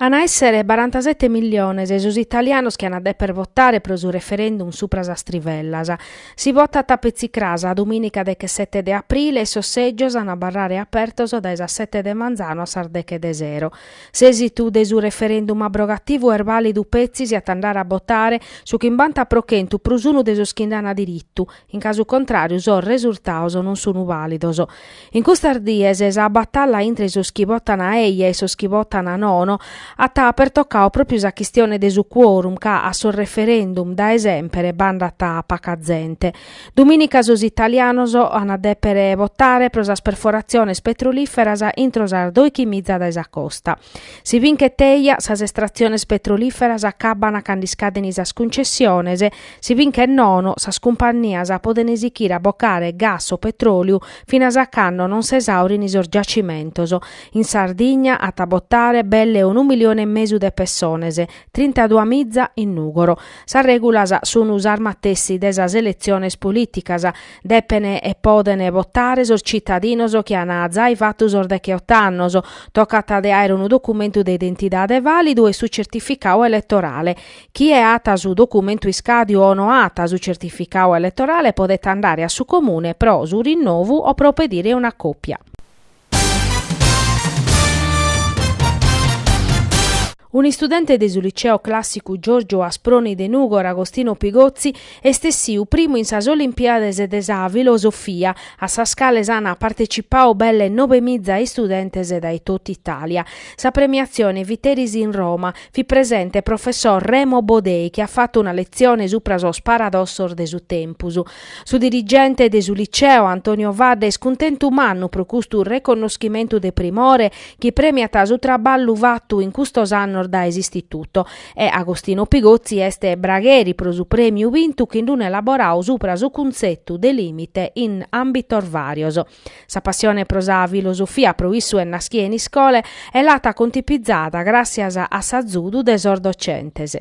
An a èssere barantasete milliones sos italianos chi an a dèpere votare pro su referendum supra sas trivellas. Si votat petzi cras domìnica dechesete de aprile e sos sègios an a abarrare apertos dae sas sete de manzanu a sas deche de sero. S'èsitu de su referendum abrogativu est bàlidu petzi si at a andare a botare su chimbanta pro chentu prus unu de sos chi nd'an diritu, In casu contràriu sos resultaos non sunu vàlidos. In custas dies sa batalla intre sos chi votan eja e sos chi votan nono at pertocau pròpiu sa chistione de su quorum ca a sos referendum dae semper b'andat paca zente. Domìnica sos italianos ant a dèpere votare pro sas perforatziones petrolìferas intro sas dòichi miza dae sa costa. Si binchet eja sas estratziones petrolìferas acabbana cando iscadene sas cuncessiones, si binchet nono sas cumpannias podene sichire a bocare gas o petròliu finas a cando non s'esàurini sos giacimentos. In Sardigna at a botare belle unu milione e mesu de pessones, trintaduas miza in Nùgoro. Sas règulas sun sas matessi de sas eletziones polìticas, Depen e poden votare sos citadinos chi an zai fatu sos decheotto annos. Tocat de àere unu documentu de identidade vàlidu e su certificau eletorale. Chie at su documentu iscadiu o no at su certificau eletorale podet andare a su Comune pro su rinnovu o pro pedire una copia. Un'istudente de su Liceo Clàssicu Giorgio Asproni de Nùgoro, Agostino Pigozzi, est essiu primu in sas Olimpiades de sa Filosofia, a sas cales ant partetzipau belle nobe miza istudentes dae totu Itàlia. Sa premiatzione fit eris in Roma. Fit presente professor Remo Bodei chi at fatu una letzione supra sos paradossos de su tempus. Su dirigente de su Liceo, Antonio Fadda, est cuntentu mannu pro custu reconnoschimentu de primore chi premiat su traballu fatu in custos annos dae s'Istituto e Agostino Pigozzi est bragheri pro su prèmiu bintu chin d'un elaborau supra su cuntzetu de lìmite in àmbitos vàrios. Sa passione pro sa filosofia pro issu est naschia in iscola e l'at contipizada gràssias a s'azudu de sos docentes.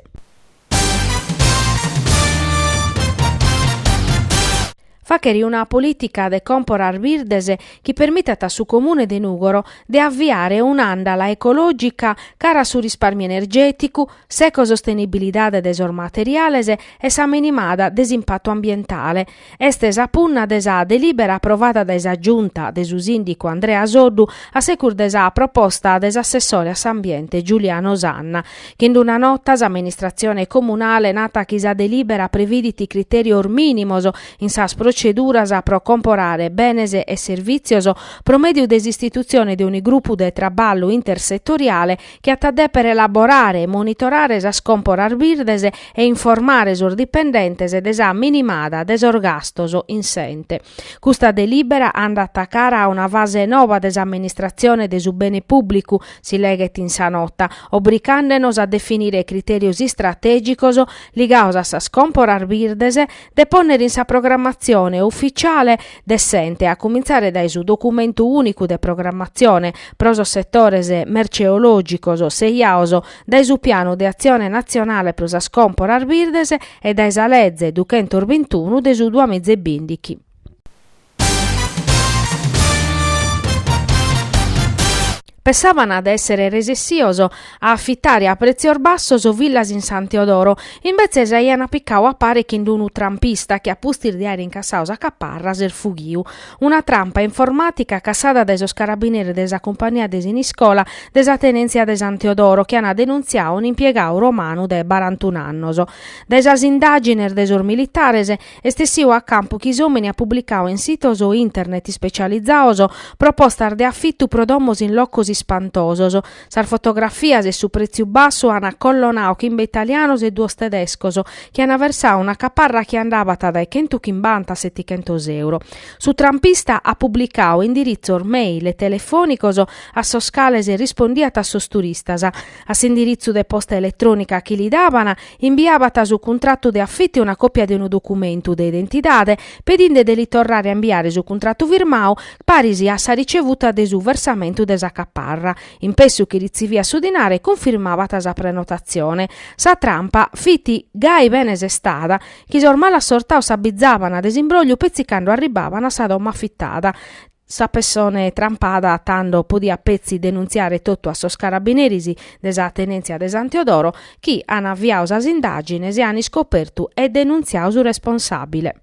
Fàchere una polìtica de còmporas birdes chi permitat a su Comune de Nùgoro de aviare un'àndala ecològica cara a su rispàrmiu energèticu, s'ecosostenibilidade de sos materiales e sa minimada de s'impatu ambientale. Est sa punna de sa delibera aprovada dae sa Giunta de su sìndicu Andrea Soddu a segus de sa proposta de s'assessore a s'ambiente Giuliano Sanna, chi in una nota s'amministratzione comunale, nat chi sa delibera previdit critèrios mìnimos in sas proceduras pro comporare benes e servìtzios pro mèdiu de s'istitutzione de unu grupu de traballu intersetoriale chi at a dèpere elaborare e monitorare sas còmporas birdes e informare sos dipendentes de sa minimada de sos gastos in s'ente. Custa delìbera andat a cara a una fase noba de s'amministratzione de su bene pùblicu, si leghet in sa nota, obricàndenos a definire critèrios istratègicos ligados a sas còmporas birdes, de pònnere in sa programmatzione ufitziale de s'ente a cumintzare dae su documentu ùnicu de programmatzione pro sos setores merceològicos seberados dae su pianu de atzione natzionale pro sas còmporas birdes e dae sa leze duchentos bintunu de su duamiza e bindighi. Pessàbana de èssere resessios a afitare a pretzios bassos villas in San Teodoro, imbetzes aiana picadu a pare chin d'unu trampista chi a pustis de àere incassadu sa caparra s'est fughiu. Una trampa informàtica cassada dae sos carabineres de sa cumpania de Siniscola de sa tenèntzia de San Teodoro chi ant denuntziadu un'impiegadu romanu de barantun'annos. Dae sas indàgines de sos militares Est essiu a campu chi s'omini at publicau in sitos internet ispecializaos propostas de afitu pro domos in locos ispantosos. Sas fotografias e su pretziu bassu an acollonau chimbe italianos e duos tedescos chi an versau una caparra chi andabat dae chentu chimbanta a setichentos euro. Su trampista at publicau indiritzos mail e telefonicos a sos cales rispondiat a sos turistas, a s'indiritzu de posta eletronica chi li daban Imbiabat su cuntratu de afitu e una còpia de unu documentu de identidade, pedinde de li torrare a imbiare su cuntratu firmadu, paris a sa ricevuta de su versamentu de sa caparra. In pessu chi ritziviat su dinare cunfirmabat sa prenotatzione. Sa trampa fit gai bene sestada, chi sos malasortados s'abbizabant de s'imbrògliu petzi cando arribabant a sa domo afitada, Sa pessone trampada tando podiat petzi denuntziare totu a sos carabineris de sa tenentzia de San Teodoro chi an aviadu sas indagines e an iscopertu e denuntziadu su responsabile.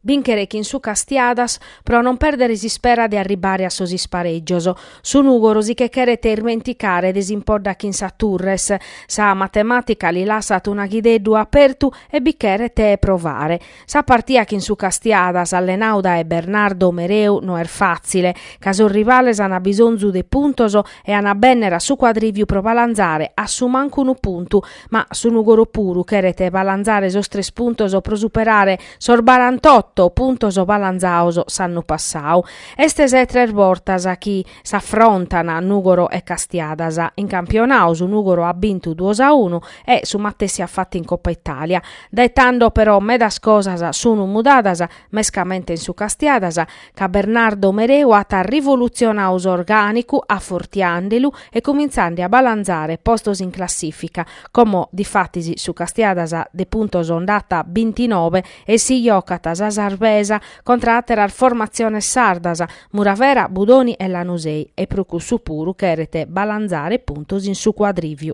Binchere chin su Castiadas pro non perdere s'ispera de arribbare a sos ispareggios. Su Nùgoro si che cheret irmenticare de s'impodda chin sa Turres. Sa matemàtica li lassat un'aghideddu apertu e bi cheret provare. Sa partia chin su Castiadas, allenau dae Bernardo Mereu, no est fàtzile, ca sos rivales ant bisonzu de puntos e ant a bènnere a su Cuadrìviu pro balanzare a su mancu unu puntu, ma su Nùgoro puru cheret balanzare sos tres puntos pro superare Sos barantotto puntos balanzaos s'annu passau. Est sa 'e tres bortas chi s'afrontan Nùgoro e Castiadas. In campionau su Nùgoro at bintu duos a unu e su matessi at fatu in Coppa Italia. Dae tando però medas cosas sun mudadas, mescamente in su Castiadas, ca Bernardo Mereu at rivolutzionau s'orgànicu afortiande lu e comintzande a balanzare postos in classìfica, como difatis su Castiadas de puntos nd'at bintinove e si jocat sa sarbesa contra àteras formatziones sardas, Muravera, Budoni e Lanusei, e pro cussu puru cheret balanzare puntos in su Cuadrìviu.